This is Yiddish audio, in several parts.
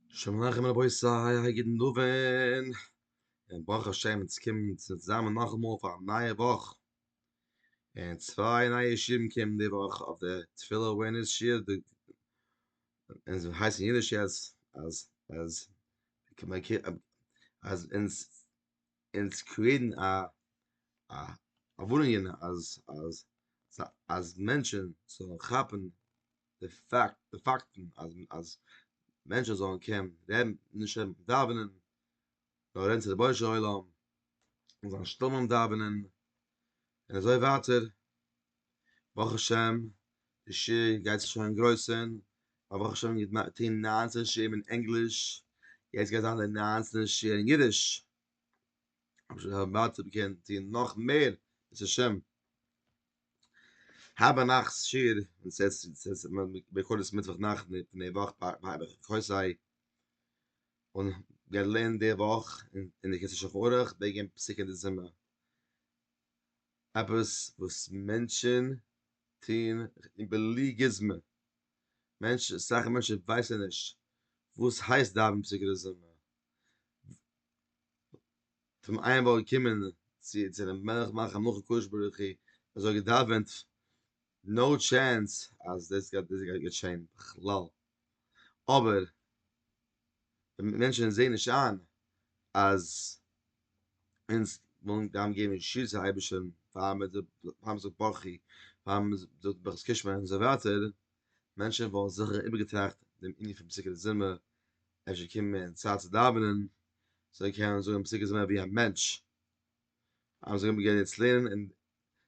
שלום עליכם רבותי אייער גוטן דאווען, און ברוך השם אונז קומען אונז צוזאמען נאכאמאל פאר א נייע וואך, און צוויי נייע שיעורים קומען די וואך אויף די תפילה אווערנעס שיעור, אונז הייסט אין אידיש יעצט אז אז אז אונז אונז קריעיטן א א א ווארענונגען אז אז אז מענטשען זאלן כאפן די פאקט די פאקטן אז אז מענטשן זאלן קענען רעדן נישט רעדן דאווענען נאר רעדן צו די בוישע עולם און זיין שטום און דאווענען און אזוי ווייטער ברוך השם די שיר גייט זיך שוין גרויסען אבער ברוך השם געט מען טוהן ניינצען שירים אין ענגליש יעצט גייט זיין די ניינצענע שיר אין אידיש אבער שוין ווייטער קען טוהן נאך מער בעזהשם האב א נאכטס שיעור און סעס סעס ביכולת מיטוואך נאכט די פון די וואך ביי ביי ביי קויס זיי און געלערנט די וואך און און די קענסט שולחן ערוך וועגען פסוקי די זומער עפעס וואס מענטשען טוהן און בלי גוזמא מענטשען אסאך מענטשען ווייסען נישט וואס הייסט דאווענען פסוקי די זומער. פון איין וואך געקומען צו צום מלך מלכי מלכי קדוש ברוך הוא און זיי געדאווענט נאו טשענס אז דאס גייט דאס גייט געשען בכלל אבער ווען מענטשען זעהן נישט איין אז אונז ווילן גיין געבן שיעור צו אייבערשטען פאר מען זאל פאר מען זאל ברכו פאר מען זאל ברכת קושמע און אזוי ווייטער מענטשען וואלן זיכער איבערגעטראכט דעם ענין פון פסוקי דזמר אפשר קומען צייט צו דאווענען. זיי קענען זאגן פסוקי זמר ווי א מענטש. אז זיי האבן געווען יעצט לערנען אין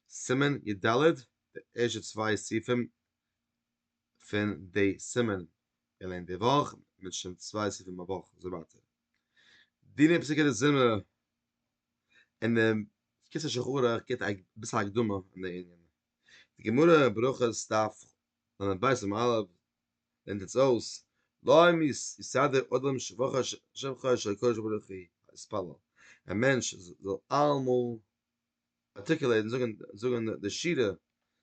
סימן י ד, די ערשטע צוויי סעיפים פון די סימן געלערנט די וואך, מיט שוין צוויי סעיפים א וואך אזוי ווייטער. דיני פסוקי די זמר אין די קיצור שולחן ערוך גיבט אביסל הקדמה אין די ענין. די גמרא ברכות דף לב א סימן א' ווענד עטס אויס, להם יסדר אדם שבחה שבחה אשר הקדוש ברוך הוא יתפלל, א מענטש זאל אלעמאל ארטיקולעטן, זאגן, זאגן די שירה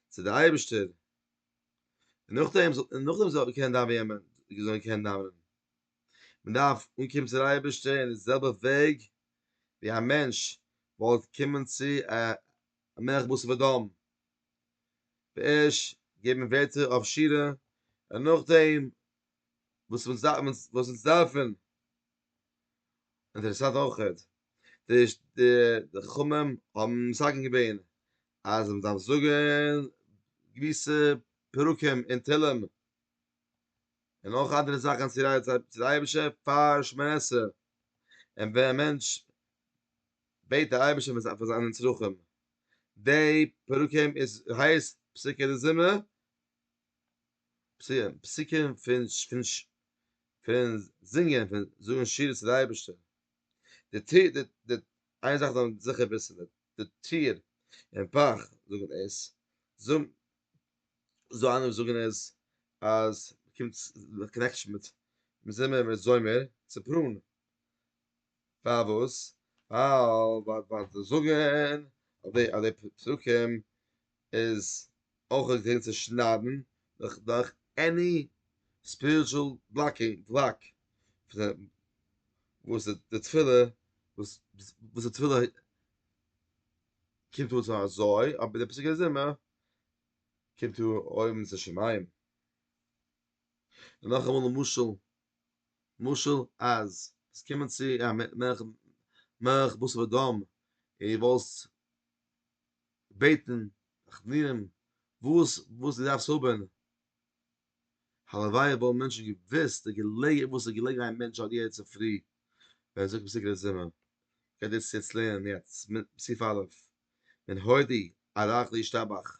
צו די אייבערשטער, און נאכדעם, און נאכדעם זאל ער קענען דאווענען, זאל ער קענען דאווענען, מען דארף אנקומען צו די אייבערשטער אין די זעלבע וועג ווי א מענטש וואלט קומען צו א מלך בשר ודם, בעש ט געבן ווערטער אויף שירה, און נאכדעם וואס אונז דארף אונז וואס אונז דארפן. אינטערעסאנט אויכעט, די די חכמים האבן מסכם געווען אז מען דארף זאגן געוויסע פרקים אין תהלים, און אויך אנדערע זאכן צו רייצן צו די אייבישטער פאר שמונה עשרה, און ווען א מענטש בעט די אייבערשטער פאר זיינע צרכים, די פרקים איז הייסט פסוקי די זומער, פסוקים פון זינגען פון זאגן שירה צו די אייבערשטער, די טיר די די איין זאך זאל מען זיכער וויסן די די טיר און פאך זאגן עס, זאג זאל איינער זאגן עס אז קומט קאנעקשאן מיט זומער מיט זומער צופרן, פארוואס? ווייל ווייל זיי זאגן אז די אז די פסוקים איז אויך געווען צו שניידן דורך דורך עני ספיריטשול בלאקינג בלאק וואס די תפילה וואס וואס די תפילה קומט אן צו אזוי אבער די פסוקי זמר קומט אן אויבן צו שמים. נאכאמאל א משל. משל אז עס קומען צו א מלך בשר ודם און דו וואלסט געבעטן חתנים וואס וואס דו דארפסט האבן, הלוואי וואלטן מענטשן געוואוסט די געלעגער וואס איז געלעגן א מענטש אט יעצט צופרי ווען ער זאגט פסוק אין די זומער, כדי צו יעצט לערנען יעצט סעיף א', מן הודי עד עכדי ישתבח.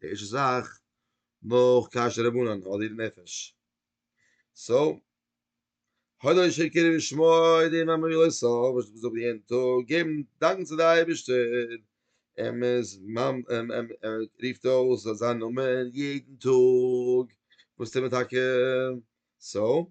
די ערשטע זאך נאך קשר רבנן האט איר נפש סאו הודו לשם כינו ושמו אודי מאמרי לא סוף וואס איך זאג יעדן טאג געבן דאנק צו די אייבערשטער און מען רופט אויס זיין נאמען יעדן טאג וואס טוט מען טאקע סאו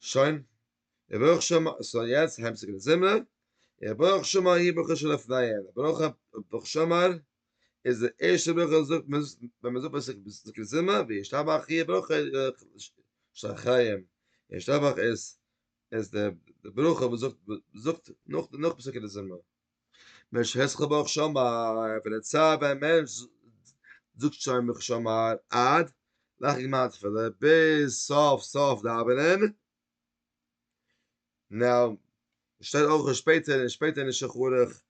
שוין, ער ברויך שוין מ ס ה יעצט הייבט זיך די זומער, ער ברויך שוין מ י ברכה שלפניה, ער ברויך א ברוך שאמר, איז די ערשטע ברכה וואס זאגט מען ווען מען זאגט פסוק פסוק די זומער, וישתבח י ברכה שלחיים, ישתבח איז איז די ברכה וואס זאגט זאגט נאך נאך פסוקי די זומער. משה'ס חבח שאמר, פון די צייט ווען א מענטש זאגט שוין מח שאמר עד לאחר גמר תפילה ביז סוף סוף דאווענען, נאר שטייט אויך שפעטער און שפעטער אין שולחן ערוך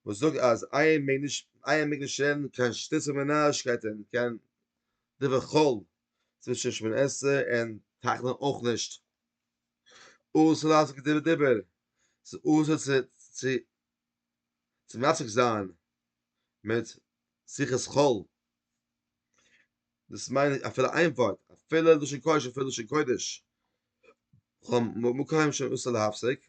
וואס זאגט אז איינער מעג נישט איינער מעג נישט רעדן קיין שטות און נארישקייטען קיין דברי חול צווישן שמונה עשרה און תחנון אויך נישט. אסור לעשות כדיבור דיבור, ס'איז אסור צו צו צו מעסיק זיין מיט שיחת חול, דאס מיין איך אפילו איין ווארט, אפילו לשון קודש אפילו לשון קודש, כ'האב מקוה נישט אסור להפסיק,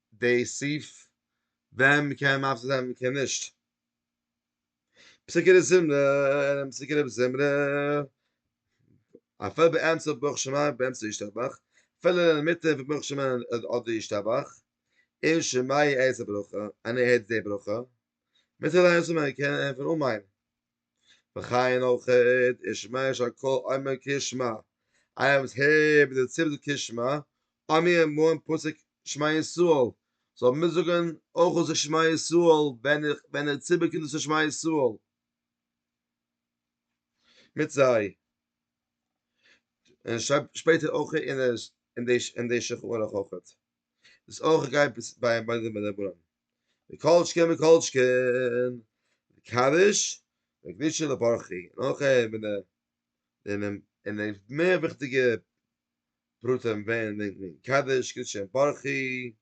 די סעיף ווען מען קען מפסיק זיין ווען מען קען נישט. פסוקי דזמרה אינעם פסוקי דף זמרה, אפילו באמצע ברוך שמים באמצע ישתבח, אפילו אינמיטן פון ברוך שמים אדער ישתבח, און שמעי איז א ברכה, און ער הערט די ברכה, מותר זיין אויסצומעקן פון אמן. וכן אויך איז שמע יש הק' אומר כי שמע, איינער וואס הערט די ציבור זאגט כי שמע, האמיר אים אן פסוק שמע ישראל, זאל מיט זאגן אויך דאס שמע ישראל ווען איך ווען דער ציבור קומט דאס שמע ישראל מיט זיי. און שרייבט שפעטער אויך אין די שכח אויך. דאס אויך גייט ביי די רבנים. וכל שכן וכל שכן, די קדיש, די קדישה לברכי, נאך אים, און אים, און אים מער וויכטיגע פרטים ווען מען דענקט וועגן קדיש, קדישה און ברכי,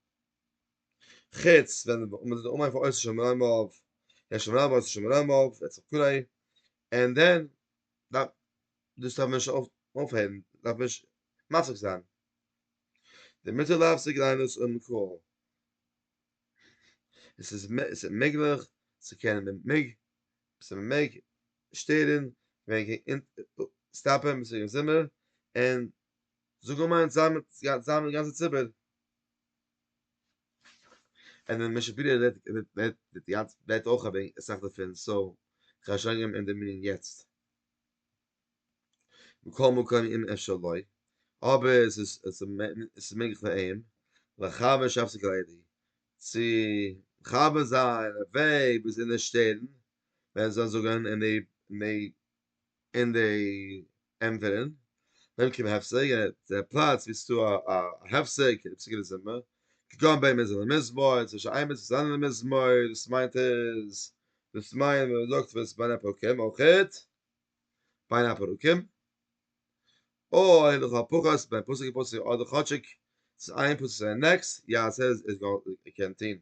חוץ ווען מען זאל זיך אנהייבן פון עושה שם רמב, עושה שם רמב, עושה שם רמב, וכו', און דען, דארף, דאס דארף מען נישט אויפהערן, דארף מען נישט מפסיק זיין, דערמיט איז להפסיק ליינען עס אויב מען קען, עס איז מעגליך צו קענען מען מעג עס איז מען מעג שטערן ווען מען קען סטאפען ביז צום זומער און זאגן אמן זאמד זאמד גאנצע ציבור און דער משב ר רעדט רעדט די גאנצע רעדט אויך אסאך דערפון סאו כ'האב שוין געגעבן אים דעם מנין יעצט. מכל מקום אם אפשר לו, אבער עס איז מעגליך פאר אים, לחבר שהפסיק על ידי, צו מחבר זיין א וועג ביז אין די שטערן, ווען עס זאל זאגן אין די אין די ענטפערן, במקום הפסק, דער פלאץ ווי עס איז דא א הפסק אין די פסוקי מזמור, כגון בין מזמור למזמור, צווישן איין מצוה צו א אנדערן מזמור, דאס מיינט עס, דאס מיינט ווען מען זאגט וואס בין הפרקים אויך. בין הפרקים, אוי לכל הפחות בין פסוק און פסוק אדער כאטשיג צווישן איין פסוק צו די נעקסט יעשה עס איז גאר ער קען טוהן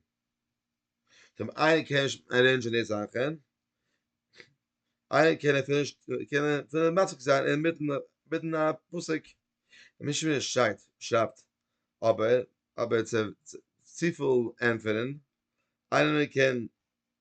טעם איינער קען נישט ערעינדזשען די זאכען איינער קען אפילו נישט קען אפילו מפסיק זיין אינמיטן מיטן א פסוק און נישט ווי ער שרייט שרייבט אבער אבער צו צופיל ענטפערען איינער קען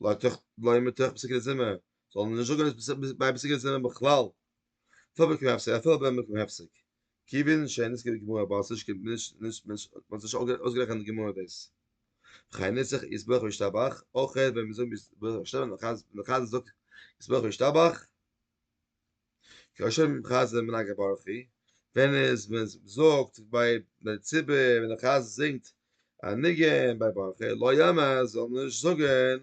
לא תח לא ימ תח פסקי דזימע זאל נישט זאגן נישט ביי פסקי דזימע בכלל פאר מיר קען אפסער אפילו ביים מקום אפסער כי וויל נישט שיין עס געבט גמור באס נישט קימט נישט נישט נישט וואס נישט אויסגערעכנט די גמור דאס חיי נצח איז ברוך וישתבח אויך ווען מיר זאגן ביז ברוך השם נחז נחז זאגט איז ברוך וישתבח כאשר מען מחז ל מנהג הברכי, ווען איז מען זאגט ביי די ציבור ווען די חזן זינגט א ניגון ביי ברכי לא יאמר זאל מען נישט זאגען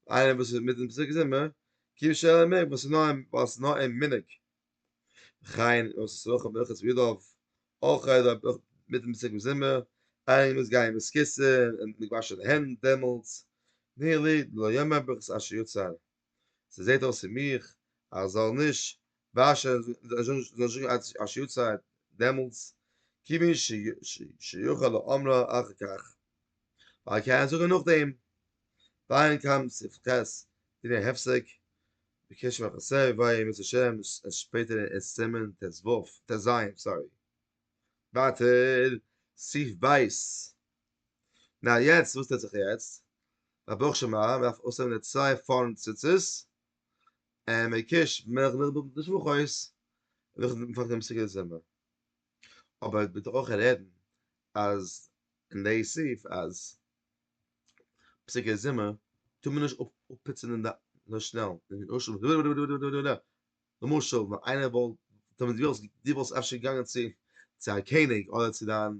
איינער וואס איז מיטן פסוק זמר כי שאלה מיר וואס איז נאר ווייל ס'איז נאר א מנהג וכן און ס'איז אויך אויף ברכת וידוף אויך איז דא מיטן פסוק זמר איינער מוז גיין מיט כיסא און מיט געוואשענע הענט דעמאלטס נילי דלא יאמר ברכת אשר יצר ס'זעט אויס פון מיך אז זאל נישט וואשען זאל נישט זאגן עד אשר יצא דעמאלטס כיוון שיוכל לאמרו אחר כך ווייל ער קען זאגן נאכדעם דיין קאמט סעיף ח' דיני הפסק בקשר ליחסי עבר עם יצר ש עס איז שפעטער אין סימן ט ז סארי ווייטער סעיף ב' נא יעצט וואס טוט זיך יעצט? א ברוך שמה מען דארף אויסהערן די צוויי פארנט ציצית און מען קיש מילך מיט די שבוך אויס און מען פאנגט אן די סוגיא זומער אבער ביטע אויך רעדן אז אין די סעיף אז סוגיא זומער טאר מען נישט אפפיצן אין די אזוי שנעל למשל ווען איינער וואלט די וואלסט אפשר געגאנגען צו א קעניג אדער צו דיין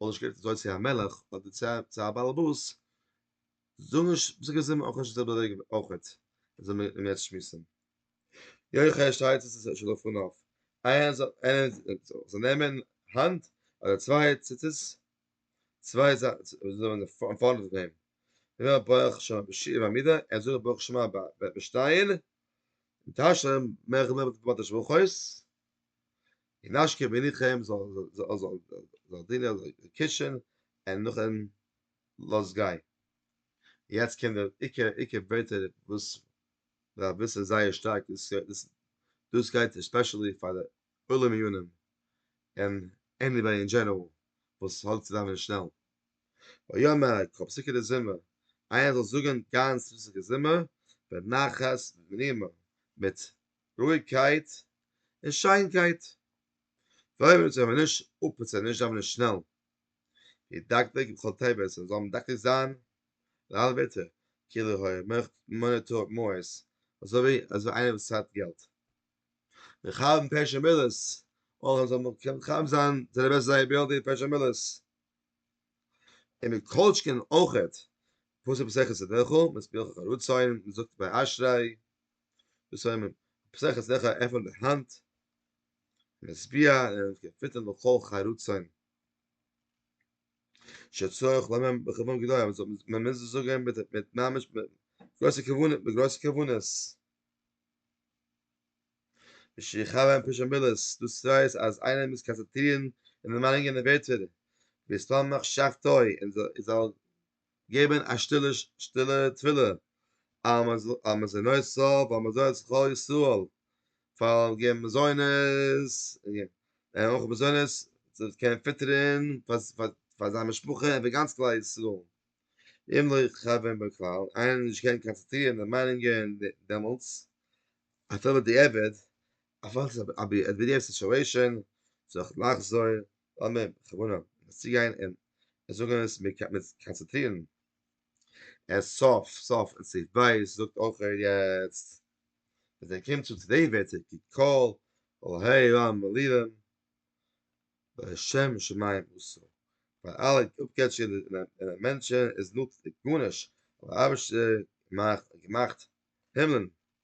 וואלט נישט גערעדט אזוי צו א מלך אדער צו א באלעבאס, זאג נישט וואס ער געזאגט זאל מען אויך נישט אזוי באוועגן אויכעט זאל מען אים יעצט שמועסן יויך ער שרייט עס איז שוין דערפון אויף איינער זאל איינער זאל נעמען האנט אדער צוויי ציצית צוויי זאגן אין פארנט פון אים ווען ער ברויך שמע בשיעור בעמידה ער זאל זאגן איך ברויך שמע ביי שטיין און טאשן מער איך בין נישט באטעמט ברויך אויס אין אשקע בין איך אים זאל זאל זאל זאל דינער זאל קישן און נאכן לאז גיין יעצט קען דער איקע איקע ווערטער וואס דער רבי איז זייער שטארק דאס דאס דאס גייט עספעשעלי פאר די עולם מיונים און עניוועי אין דזשענעראל וואס האלט צוזאמען שנעל ויאמר א קאפסיקע די זומער איינער זאל זאגן גאנץ ריזיגע זומער בנחת ונעימה מיט רואיגקייט און שיינקייט. פראבירט מען צו ווען מען נישט אפ און צו נישט דאווענען שנעל. ווי דקדוק בכל טבת עס זאל מדקדק זיין לאל ביתר כאילו היה מונה תרועות מעות אזוי ווי איינער וואס צייט געלט. מכוון פרשי מילות אויך מען זאל מכוון זיין זיינע בעסטע זייער ביי די פרשי מילות. און מען קאוטשקען אויכעט פסוק מסכת סדרחל מספירא חכא רצון מען זאגט ביי אשרי. פסח איז לכאו' עפענט די האנט, משביע און געפיטערט לכל חי רצון. שצריך לומר בכוון גדול, מען מוז עס זאגן מיט ממש גרויסע כוונות, מיט גרויסע כוונות. שיכאווען פרישע מילות, דאס ווייזט אז איינער מוז קאנצענטרירן און דערמאנונגען און ווערטער, וישתמח שבתו, און זאל געבן א שטילע שטילע תפילה אז מען זאל נאר סוף אז מען זאל זיך כל ישראל פאר געבן מזונות און אויך מזונות זיך קענען פיטערען פאר פאר זיין משפחה און פאר גאנץ כלל ישראל אם לא יכוון בכלל איינער וועט נישט קענען קאנצעטרירן די מיינונגען דעמאלטס אפילו בדיעבד אפילו עס איז א בידיעה סיטואעישאן זיך לחזור לאמיר בכוונה עס צוגיין און זאגן עס מיט קאנצעטרירן עס סוף סוף אין סעיף בית זאגט אויך ער יעצט ווען ער קומט צו צוויי ווערטער כי כל אלהי עולם מלירים בשם שמים עשו ווייל אלע אפגעטשקע און מענטשן איז נוצט גארנישט אבער אייבערשטער האט געמאכט הימלען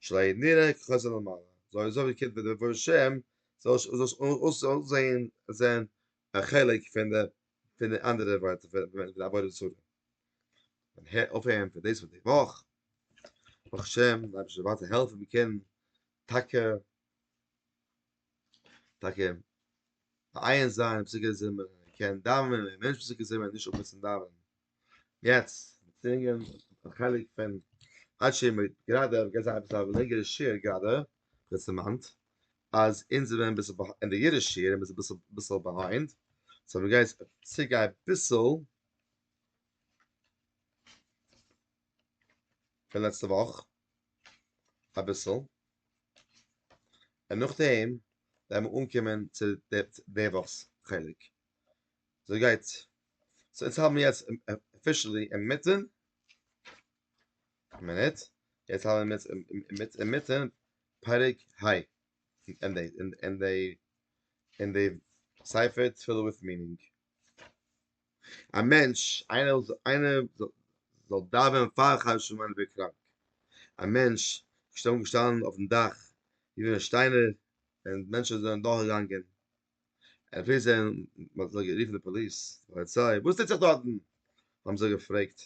שלא נראה כחזון למעלה, זאל אזוי ווי קומט דער בורא שם, זאל נישט אויסזען זען א חלק פון די פון די אנדערע ווערטער פון די עבודה זרה. און הער אויף אהן פון דאס פון די וואך, ברוך השם, די אייבערשטער זאל ווייטער העלפן מיר קענען טאקע טאקע מעיין זיין אין פסוקי זמר קען דאווענען ווי מענטש פסוקי זמר נישט אפמעסן דאווענען יעצט זינגען א חלק פון עד שיהיה מועד גראדע גייט זיין עפעס א לענגערע שיעור גראדע וואס דערמאנט אז אונז זעמיר אביסל ביהיינד אין די אידישע שיעור איז אביסל אביסל ביהיינד סאו מ'גייט צוריק אביסל פון לעצטע וואך אביסל. און נאכדעם וועלן מיר אנקומען צו די וואך'ס חלק. אזוי גייט. סאו אונז האבן יעצט אפישעלי אינמיטן, מינוט, יעצט האבן מיר אינמיטן אינמיטן פרק ה' אין די אין די אין די ספר תפילה וויט מינינג. א מענטש, איינער זאל דאווענען פאר חדש פון מיין וועג קראנק, א מענטש שטאנען געשטאנען אויפן דאך ווי ווען שטיינער און מענטשען זענען דורך געגאנגען, און אפילו זיי האבן מען האט זיי גערופן די פאליס פאליציי וואס טוט זיך דארטן האבן זיי געפרעגט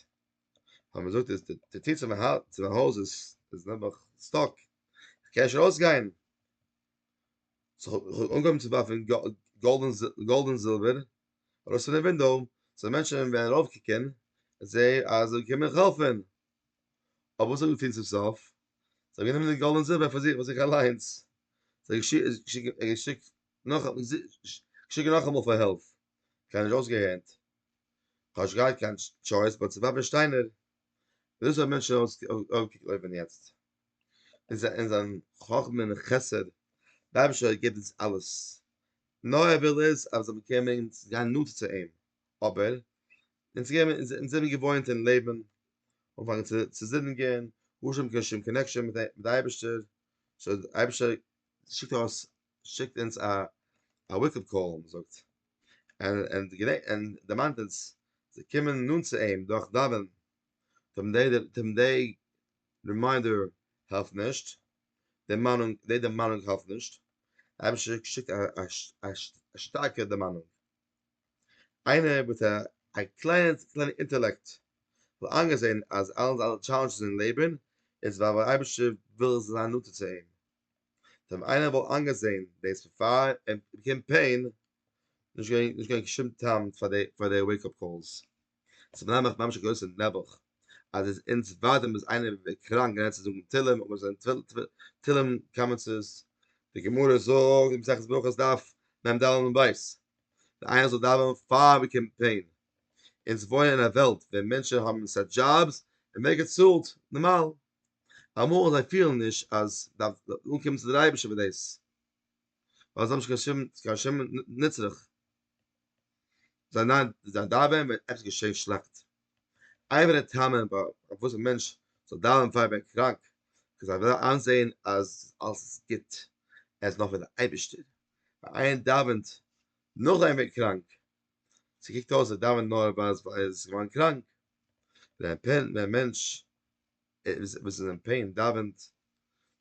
האט מען געזאגט איז די טיר צו מיין הויז איז נעבעך סטאק איך קען נישט ארויס גיין סאו איך האב אנגעהויבן צו ווארפן גאלד און זילבער. ארויס פון די ווינדאו זענען מענטשן ווען ארויפקוקען זעהען אז זיי קומען העלפען אבער וואס האט געטון צום סוף זיי האבן גענומען די גאלד און זילבער פאר זיך פאר זיך אליינס זיי האבן געשיקט נאך געשיקט נאכאמאל פאר העלפ קיינער האט נישט אויסגעהערט כאטש געהאט קיין טשויס באט ס'איז פאפער שטיינער דאס האבן מענטשן אויפגעקליבען יעצט. אין זיין חכמה און חסד, דער אייבערשטער געבט אונז אלעס, נאר ער וויל איז אז מיר זאלן באקומען און גיין נאנטער צו אים, אבער אונז זעמיר געוואוינט אין לעבן אנפאנגען צו זינדיגען אן קיין שום קאנעקשאן מיט דער אייבערשטער, סאו דער אייבערשטער שיקט ארויס, שיקט אונז א וועיק אפ קאל, ווי מ'זאגט, און און דערמאנט אונז צו קומען נאנט צו אים דורך דאווענען, רימיינדער העלפט נישט, דערמאנונג, די דערמאנונג העלפט נישט, אייבערשטער שיקט א שטארקע דערמאנונג, איינער מיט א קליינע קליינע אינטעלעקט וואלט איינגעזען אז אלעס אלע טשאלענדזשעס אין לעבן איז ווייל ווייל אייבערשטער וויל זיין נאנטער צו אים, טא ווען איינער וואלט איינגעזען דאס בעפאר ער באקומט פעין, נישט געווען נישט געווען קיין שום טעם פאר די פאר די וועיק אפ קאלס, ס'איז מנהל מיך ממש א גרויסע נעבעך, אז איז אונז ווארט אונז איז איינער קראנק געווען צו זאגן תהלים אבער זיין תהלים קאמענטס די גמרא זאגט אין מסכת ברכות דף מ ד עמוד ב' אז איינער זאל דאווענען פאר מען קומט פעין, אונז וואוינען אין א וועלט ווען מענטשן האבן סא דזשאבס און מער געצאלט, נארמאל אמאל זיי פילן נישט אז דארף אנקומען צו דער אייבערשטער פאר דאס. ווייל זיי האבן נישט קיין שום קיין שום נצרך זיי ניין זיי דאווען ווען עפעס געשעהן שלעכט אייווער די טעמע ביי וואס א מענטש זאל דאווען פאר ער ווערט קראנק קען זיי וועלן איינזעהן אז אלעס איז גוט ער איז נאך ביי די אייבערשטער ווען איינער דאווענט נאכדעם ער ווערט קראנק ס'קוקט אויס ער דאווענט נאר ווייל ער איז געווארן קראנק ווען א מענטש וואס איז אין פעין דאווענט,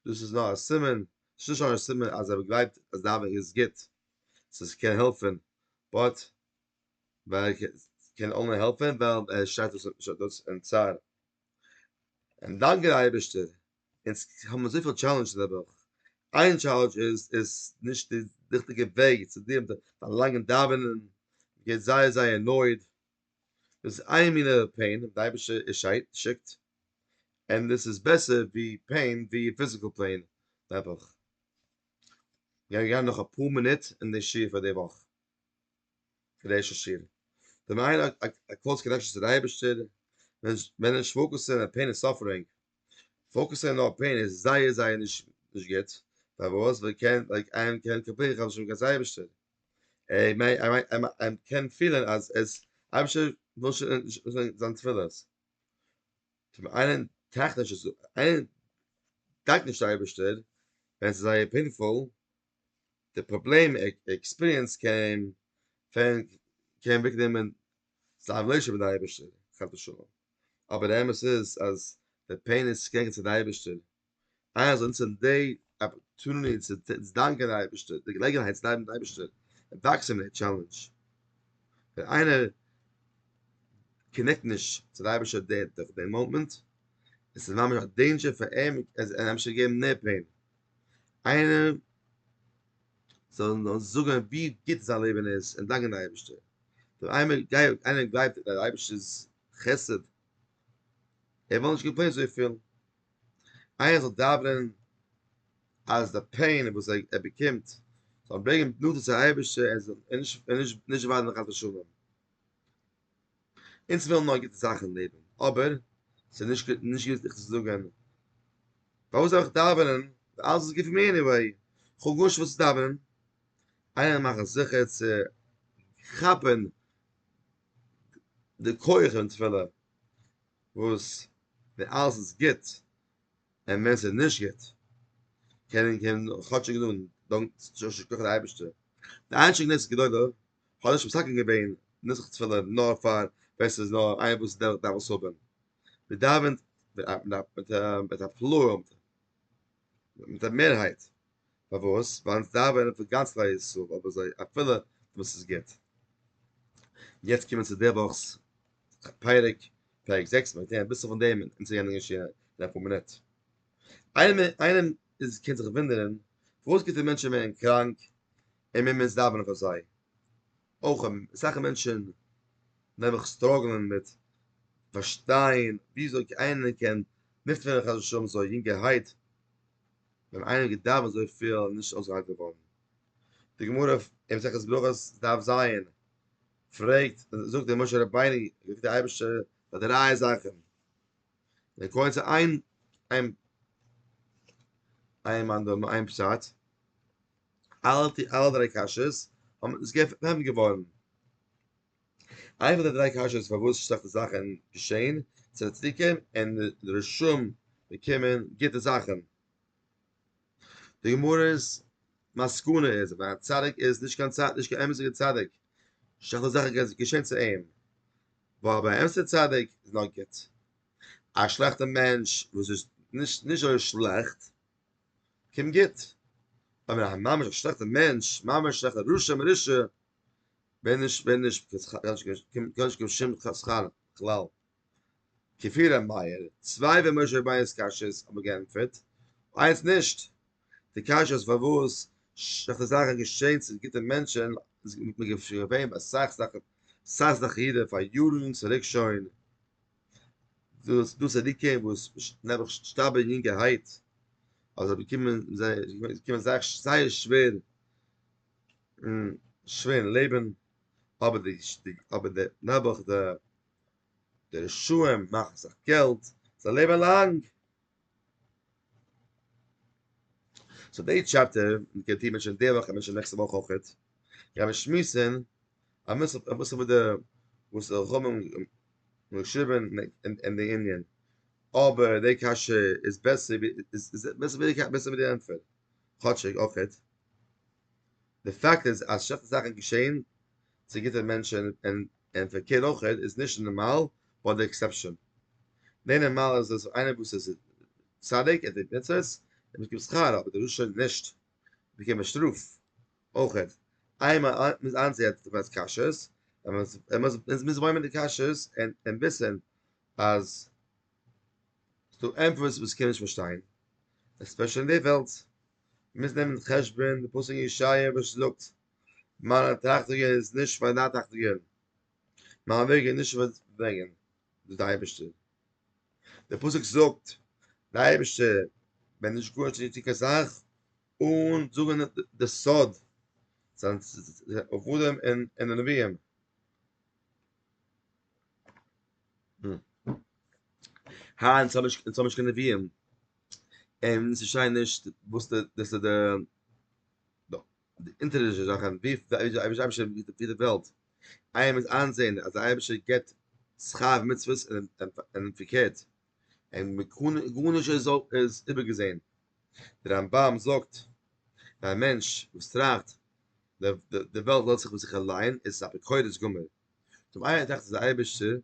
דאס איז נאר א סימן, ס'איז נישט נאר א סימן אז ער גלייבט אז דאווענען איז גוט, ס'איז קען העלפען, באט ווייל קען אנלי העלפען ווייל ער שרייט אויס דאס אין צער, און דאנקען די אייבערשטער, אונז האבן אזויפיל טשעלענדזשעס די וואך, איין טשעלענדזש איז איז נישט די ריכטיגע וועג צו דיעלן מיט די פארלאנגען דאווענען, געבט זייער זייער נויט, דאס איז איין מינע פעין וואס די אייבישטער שיקט, און דאס איז בעסער ווי פעין ווי פיזיקעל פעין נעבעך. גיימיר גיין נאך אפאר מינוט אין די שיעור פאר די וואך, פאר די ערשטע שיעור. ווען מ'האט א א א קלאוז קאנעקשאן צו די אייבישטער, מען נישט פאוקוסען אויף פעין און סאפערינג, פאוקוסען נאר אויף פעין איז זייער זייער נישט נישט גוט, פארוואס? ווייל קען ווייל איין קען קאפירן כ'האב נישט ליב קיין סאיבישטער. ער מיינט ער מיינט ער קען פילען אז עס אייבערשטער וויל שוין נישט זיין תפילות. צום איינעם טראכט נישט עס איינער דאנקט נישט די אייבערשטער ווען עס איז זייער פעינפול, די פראבלעם עקספיריענס קען פעלן קען אוועק נעמען זיין רילעישאנשיפ מיט די אייבערשטער חס ושלום, אבער די אמת איז אז די פעין איז צוגעגענט צו די אייבערשטער אז אונז זענען די אפערטוניטי צו דאנקען די אייבערשטער, די געלעגנהייט צו דאנקען די אייבערשטער, און וואקסן מיט די טשעלענדזש. ווען איינער קאנעקט נישט צו די אייבערשטער דורך די מאמענט, עס איז ממש א דעינדזשער פאר אים, ער זאל אים אפשר געבן מער פעין, איינער זאל אים נאר זאגן ווי גוט זיין לעבן איז און דאנקען די אייבערשטער. ווען איינער גלייבט אין די אייבערשטער'ס חסד, ער וויל נישט קאמפלעינען אזויפיל. איינער זאל דאווענען אז די פעין וואס ער באקומט זאל אים ברענגען נאנטער צו אייבערשטער און זאל נישט וויינען חס ושלום. אונז ווילן נאר גוטע זאכן אין לעבן, אבער ס'איז נישט נישט גוט זיך צו זאגן פארוואס זאל איך דאווענען ווען אלעס איז גוט פאר מיר עניוועי, כ'האב גארנישט פארוואס צו דאווענען. איינער מאכן זיכער צו כאפן די כח אין תפילה וואס ווען אלעס איז גוט און ווען ס'איז נישט גוט קען מען קען מען כאטשיג זאגן דאנק יישר כח די אייבערשטער די איין שכן נס גדול האט נישט מסכים געווען נוסח תפילה נאר פאר ווען ס'איז נאר איינער וואס דארף דארף עס האבן מען דאווענט מיט א מיט א מיט א פלאו מיט א מערהייט פארוואס? ווייל אונז דאווענען פאר גאנץ כלל ישראל, אבער זיי אפילו וואס איז גוט. יעצט קומען צו די וואכ'ס פרק, פרק זעקס, מיר וועלן הערן אביסל פון דעם אין צו יענע שיעור אין אפאר מינוט. איינעם איז קען זיך וואונדערן, פארוואס גוטע מענטשן ווערן קראנק און מיר מוזן דאווענען פאר זיי? אויך אסאך מענטשן נעבעך סטראגלען מיט פארשטיין וויאזוי איינער קען נפטר ווערן חס ושלום אזוי יונגערהייט, ווען איינער האט געדארפט אזויפיל איז נישט אויסגעהאלט געווארן. די גמרא אין מסכת ברכות דף ז פרעגט, זאגט דער משה רבינו, זאגט דער אייבערשטער פאר די רייע זאכן, דער כהן צו איין איין איין מאן דאמר איין פשט, אלע אלע דריי קשיות האבן עס געפענט געווארן. איין פון די דריי קשיות פארוואס שלעכטע זאכען געשעהן צו די צדיקים און די רשעים באקומען גוטע זאכען. די גמרא'ס מסקנא איז אז א צדיק איז נישט קיין צדיק, נישט קיין אמת'דיגע צדיק, שלעכטע זאכען קען געשעהן צו אים, ווייל ביי א אמת'דיגע צדיק איז נאר גוט. א שלעכטע מענטש וואס איז נישט נישט אזוי שלעכט קומט גוט. אבער א ממש א שלעכטע מענטש, ממש שלעכטע רשע מרושע. ווען נישט ווען נישט קען נישט קיין שום חסכן כלל כפי ר' מאיר צוויי ווען משה רבינו'ס קשיות האבן געענטפערט איינס נישט די קשיות פארוואס שלעכטע זאכן געשעהן צו גוטע מענטשן איז געווען ביי אסאך זאכן אסאך זאכן אידן פאר יארן צוריק שוין דאס דאס איז די קען וואס נעבעך שטארבן אין יונגערהייט אזוי באקומען זיי זיי באקומען זייער זייער שווער און שווערן לעבן, אבער די די אבער די נעבעך די די רשעים מאכן זיך געלט, זיי לעבן לאנג. סאו די טשעפטער, און מ'קען טוהן מענטשען די וואך און מענטשען נעקסטע וואך אויכעט, קען מען שמועסן, א מוסר א מוסר וואס די וואס די חכמים האבן געשריבן אין אין די ענין, אבער די קשיא איז בעסער ווי איז איז בעסער ווי די קש בעסער ווי די ענטפער. כאטשיג אויכעט, די פאקט איז אז שלעכטע זאכן געשעהן צו גוטע מענטשען און און פארקערט אויכעט איז נישט נארמאל באט די עקסעפשען. די נארמאל איז אז איינער וואס איז צדיק ער טוט מצוות ער באקומט שכר אבער די רשע נישט באקומט ער שטראף אויכעט איינמאל מ'איז איינזעהט די וועלטס קשיות און מ'איז מוז בלעימען די קשיות און און וויסען אז ס'דא ענטפערס וואס כ'קען נישט פארשטיין, עספעשעלי אין די וועלט. מ'מוז נעמען אין חשבון די פסוק אין ישעיה וואס זאגט, מיינע טראכטונגען איז נישט ווי דיינע טראכטונגען, מיינע וועגן איז נישט ווי דיינע וועגן, זאגט דער אייבערשטער. דער פסוק זאגט, דער אייבערשטער וועט נישט גארנישט נישט טון קיין זאך אן זאגן די סוד, זיין עבדים און נביאים. היינט האב איך צו משכן נביאים אין ס'שיין נישט וואס די דאס איז די דא די אינטערדישע זאכן ווי אייביש אייביש ווי די וועלט איי מוז איינזען אז אייביש געט שכר מצוות אין פיקעט אין מקון גארנישט איז איז איבערגעזען דער רמבם זאגט א מענטש וואס טראכט די וועלט לאזט זיך אויף זיך אליין איז א אפיקורס גמור טוב איי דאכט איז די אייבערשטער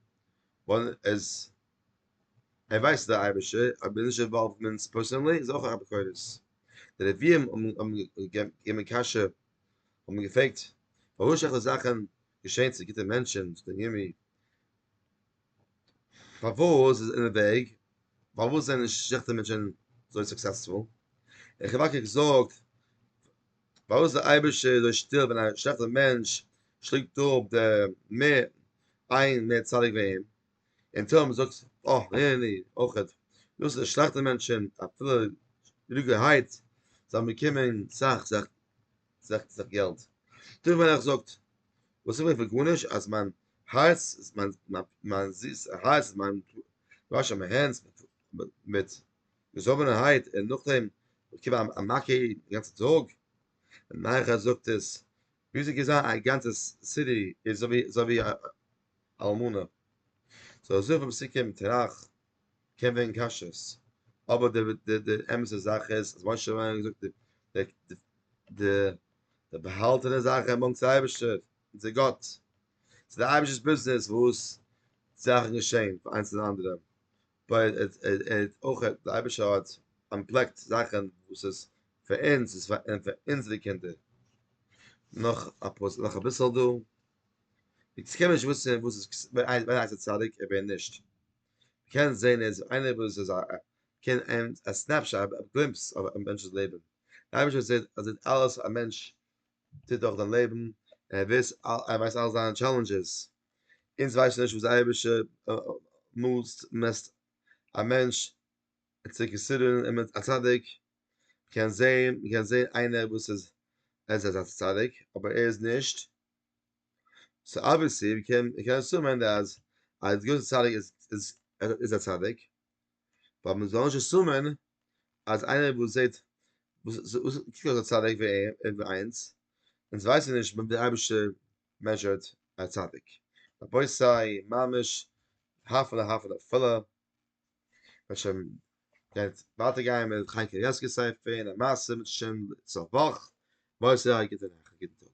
ווייל עס ער ווייסט דער אייבערשטער אבער נישט אינוואלוומענטס פערסאנלי איז אויך א ביקורת די נביאים האבן געגעבן קשיא האבן געפרעגט פארוואס שלעכטע זאכן געשעהן צו גוטע מענטשן זאגט דער ירמי' פארוואס איז אין די וועג פארוואס זענען שלעכטע מענטשן אזוי סוקסעספול און חבקוק זאגט פארוואס איז דער אייבערשטער אזוי שטיל ווען א שלעכטער מענטש שלינגט אפ די מ איין מער צדיק ווי אים? און תהלים זאגט אויך הערני אויך דאס איז די שלעכטע מענטשען אפילו ריגער הייט זיי האבן באקומען סאך סאך סאך סאך געלט תיכף מלך זאגט וואס איך וויל פון גארנישט אז מיין הארץ מיין זיס הארץ מיין וואש מיין הענט מיט געזאָבענערהייט און נאָכדעם באַקומען אַ אַ מכה די גאַנצע טאָג. נייערהייט זאָגט עס ווי זי געזען אַ גאַנצע סידי איז זי ווי זי ווי אַ אַלמנה. זאָל ער זוכן ביים סיכום תרח קען ווערן כשר. אָבער די די די אמת'ע זאַך איז אַז משה רבנו האָט געזאָגט די די די די באַהאַלטענע זאַכן באַנקט צו אייבערשטער און צו גאָט. ס'איז דער אייבערשטער'ס ביזנעס וואָס זאַכן געשען פאַר איינס און אַנדערעם. ווייל ער האט אויך דער אייבערשטער האט אנטפלעקט זאכן וואס איז פאר אונז איז פאר אונזערע קינדער נאך א פוסק נאך אביסל דא איך קען נישט וויסן וואס איז ווער הייסט צדיק און ווער נישט קען זען איז איינער וואס איז א קען אין א סנעפשאט א גלימפס אויף א מענטש'ס לעבן אייביג איז זעט אז זעט אלעס א מענטש טוט דורך זיין לעבן ער וויס ער ווייסט אלע זיינע טשעלענדזשעס אונז ווייסן נישט וואס די אייבערשטער מאסט און מעסט א מענטש צו כסדרן איז מען א צדיק, מ'קען זען מ'קען זען איינער וואס איז ער איז אזא צדיק אבער ער איז נישט, סאו אבוויעסלי מ'קען מ'קען אסומען אז א געוויסע צדיק איז איז איז א צדיק, באט מ'זאל נישט אסומען אז איינער וואס זעט וואס קוקט אויס א צדיק ווי ער ווי אינז, אונז ווייסן נישט ווי די אייבערשטער מעזשערד א צדיק, רבותי ממש הפלא הפלא פלא, מ'וועט שוין גייט ווייטער גיין מיט חיים קנייבסקי ספר און א מעשה מיט שוין צו א וואך, בעז ה א גוטע נאכט א גוטן טאג.